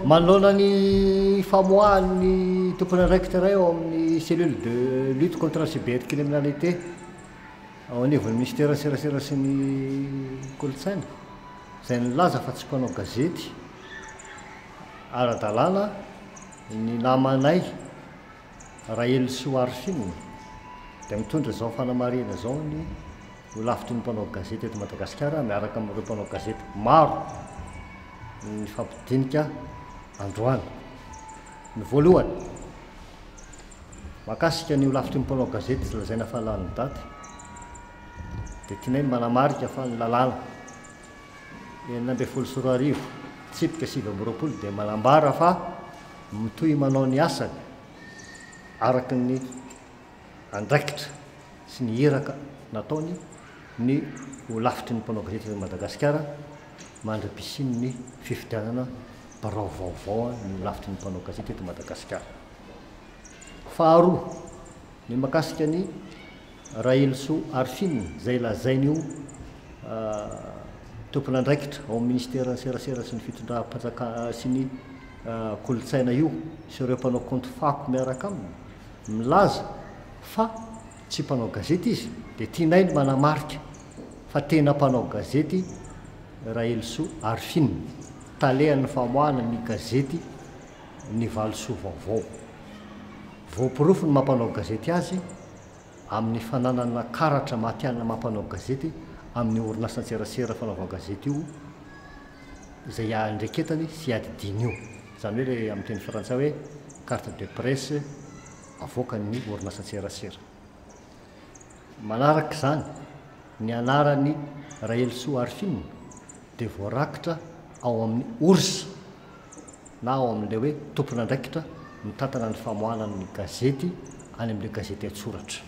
Manoloana ny famoahan'ny tompon'andraikitra iray ao amin'ny Cellule de lutte contre la cybercriminalité ao anivon'ny Minisiteran'ny Serasera sy ny Kolontsaina, izay nilaza fa tsy mpanao gazety ara-dalàna ny namanay Rahelison Arifin, dia mitondra izao fanamarihana izao ny Holafitry ny mpanao gazety eto Madagasikara miaraka amin'ireo mpanao gazety maro nifampidinika androany. Ny voalohany, mahakasika ny Holafitry ny mpanao gazety tsy lazaina fa lany daty, dia tianay ny manamarika fa ny lalàna, enina ambin'ny folo sy roa arivo, tsipika sivy amby roapolo dia manambara fa mitohy manao ny asany araka ny andraikitra sy ny iraka nataony ny Holafitry ny Mpanao Gazety eto Madagasikara mandra-pisian'ny fifidianana birao vaovao ny Holafitry ny Mpanao Gazety eto Madagasikara. Faharoa. Ny mahakasika an'i Rahelisoa Arifin izay lazain'io tompon'andraikitra ao amin'ny Minisiteran'ny Serasera sy ny Fitondram-panjakana sy ny Kolontsaina io sy ireo mpanao kaonty fako miaraka aminy milaza fa tsy mpanao gazety izy dia tianay ny manamarika fa tena mpanao gazety Rahelisoa Arifin, talehan'ny famoahana ny gazety ny valisoa vaovao. Voaporofo ny maha-mpanao gazety azy amin'ny fananana karatra matihanina maha-mpanao gazety amin'io orinasan-tserasera fanaovan-gazety io izay iandreketany sy iadidiany io, izany hoe ilay amin'ny teny frantsay hoe carte de presse avoakan'ny orinasan-tserasera. Manaraka izany, ny anaran'i Rahelisoa Arifina dia voarakitra ao amin'ny ors. na ao amin'ilay hoe tompon'andraikitra mitantana ny famoahana ny gazety any amin'ilay gazety an-tsoratra.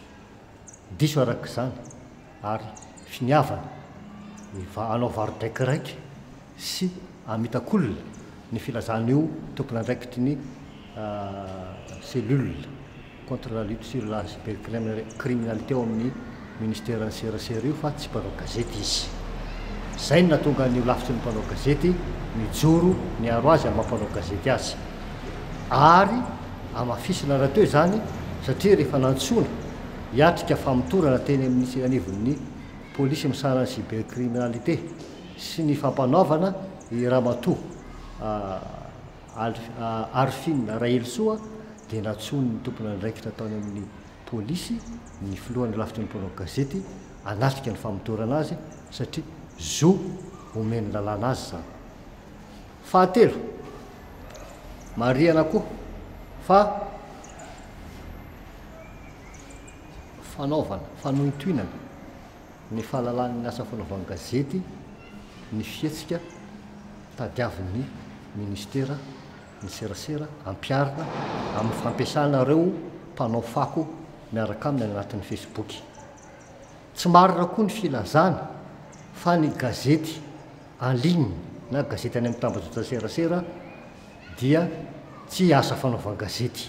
Diso araka izany ary finiavana ny hanao varo-draikiraika sy hamitak'olona ny filazan'io tompon'andraikitry ny cellule. contre la lutte sur la cybercriminalité ao amin'ny ministeran'ny serasera io fa tsy mpanao gazety izy. Izay no nahatonga an'io lafitry ny mpanao gazety mijoro miaro azy amin'ny maha mpanao gazety azy. Ary hamafisina rahateo izany satria rehefa nantsoina hiatrika famotorana teny amin'ny anivon'ny polisy misahana ny cybercriminalité sy ny fampanaovana i Ramatoa Arifin Rahelosoa dia nantsoin'ny tomponandraikitra tany amin'ny polisy ny filohan'ny rafitra ny mpanao gazety hanatrika ny famotorana azy satria zo omen'ny lalàna azy izany. Fahatelo, marihana koa fa fanaovana fanohintohinana. ny fahalalany ny asa fanaovan-gazety ny fihetsika tadiavin'ny Ministera ny serasera ampiharina amin'ny fampiasana ireo mpanao fako miaraka aminy any anatin'ny Facebook. Tsy marina koa ny filazany fa ny gazety en ligne na gazety any amin'ny tambajotra serasera dia tsy asa fanaovan-gazety.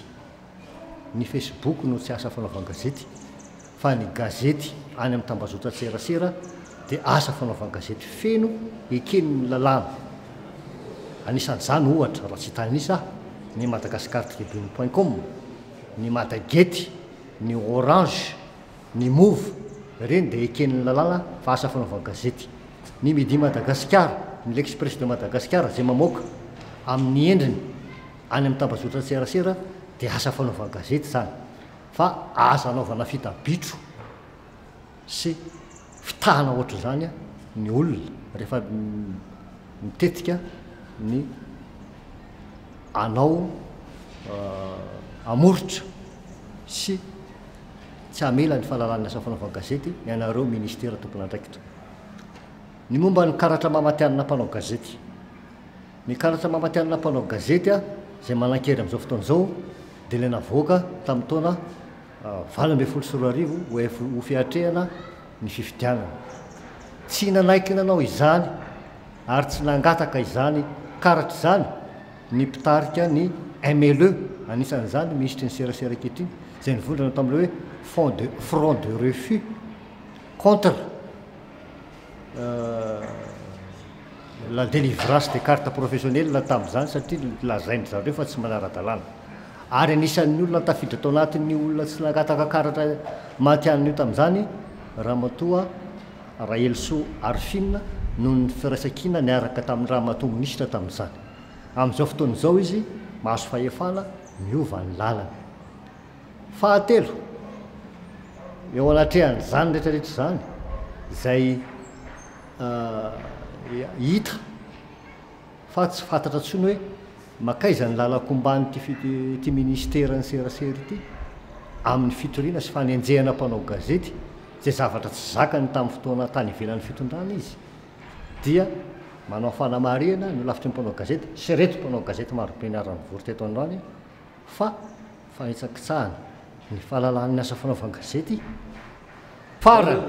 ny Facebook no tsy asa fanaovan-gazety fa ny gazety any amin'ny tambazotran-tserasera dia asa fanaovan-gazety feno eken'ny lalàna. Anisan'izany, ohatra, raha tsy hitanisa aho, ny Madagascartribune point com, ny Madagety, ny Orange, ny Move, ireny dia eken'ny lalàna fa asa fanaovan-gazety. Ny Midi Madagasikara, ny L'Express de Madagascar izay mamoaka amin'ny endriny. any amin'ny tambazotran-tserasera dia asa fanaovan-gazety izany fa asa anaovana fita bitro sy fitahana ohatr'izany ny olona rehefa mitetika ny hanao hamoritra sy tsy hamela ny fahalalan'ny asa fanaovan-gazety ianareo ministera tompon'andraikitra. Ny momba ny karatra maha-matihanina mpanao gazety. Ny karatra maha-matihanina mpanao gazety ahy izay manan-kery amin'izao fotoana izao dia ilay navoaka tamin'ny taona valo ambin'ny folo sy roa arivo ho fiatrehana ny fifidianana. Tsy nanaiky nanao izany ary tsy nangataka izany karatra izany ny mpitarika ny MLE, anisan'izany ny minisitry ny serasera ankehitriny, izay nivondrona tamin'ilay hoe Front de Refus contre. la délivrance des cartes professionnelles tamin'izany satria lazain-dry zareo fa tsy manara-dalàna. Ary anisan'ny olona tafiditra tao anatin'ny olona tsy nangataka karatra matihanina io tamin'izany Ramatoa Rahelisoa Arifina noho ny firaisan-kina niaraka tamin'ny Ramatoa Minisitra tamin'izany. Amin'izao fotoana izao izy mahazo fahefana miova ny lalany. Fahatelo, eo anatrehan'izany rehetrarehetra izany izay hita fa tsy fantatra intsony hoe mankaiza ny lalan-komban'ity ity ministeran'ny serasera ity amin'ny fitoriana sy fanenjehana mpanao gazety izay zavatra tsy zakany tamin'ny fotoana tany ivelan'ny fitondrana izy dia manao fanamarihana ny holafitry ny mpanao gazety sy ireto mpanao gazety marobe niara-nivory teto androany fa fahetsan-kitsahana ny fahalalahan' ny asa fanaovan-gazety farany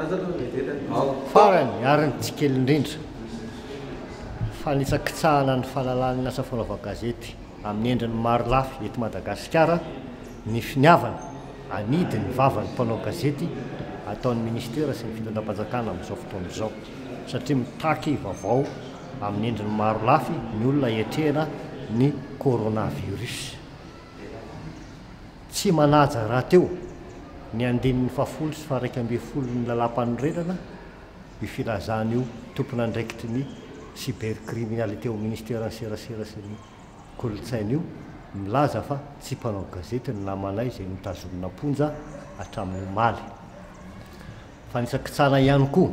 farany ary ny tsy kely indrindra ny fanitsan-kitsahana ny fahalalahan' ny asa fanaovan-gazety amin' ny endriny maro lafy eto Madagasikara ny finiavana hanidy ny vavan' ny mpanao gazety ataon' ny ministera sy ny fitondram-panjakana amin' izao fotoana izao satria mitaky vaovao amin' ny endriny maro lafy ny olona hiatrehana ny coronavirus. Tsy manaja rahateo ny andininy fahafolo sy faharaika ambin'ny folon'ny Lalàmpanorenana io filazana io tompon'andraikitry ny cybercriminalité ao Ministeran'ny Serasera sy ny Kolontsaina io milaza fa tsy mpanao gazety ny namanay izay notazonina am-ponja hatramin'ny omaly. Fanitsakitsahana ihany koa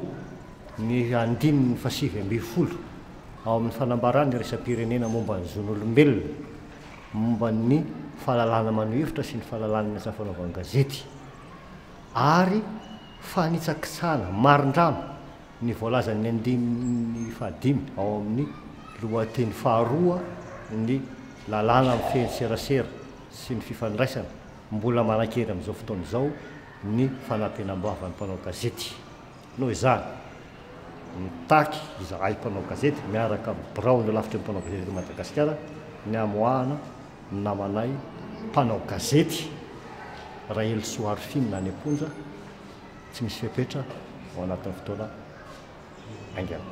ny andininy fahasivy ambin'ny folo ao amin'ny fanambarana iraisam-pirenena momba ny zon'olombelona. momba ny fahalalahana maneho hevitra sy ny fahalalahana ny asa fanaovana gazety ary fanitsakitsahana marindrano ny voalazan'ny andininy fahadimy ao amin'ny lohateny faharoa ny lalàna mifehy ny serasera sy ny fifandraisana, mbola manankery amin'izao fotoana izao ny fanampenam-bava ny mpanao gazety. Noho izany, mitaky izahay mpanao gazety miaraka amin'ny biraon'ny Holafitry ny Mpanao Gazety eto Madagasikara ny hamoahana ny namanay mpanao gazety Rahelisoa Arifina any am-ponja tsy misy fepetra ao anatin'ny fotoana haingana.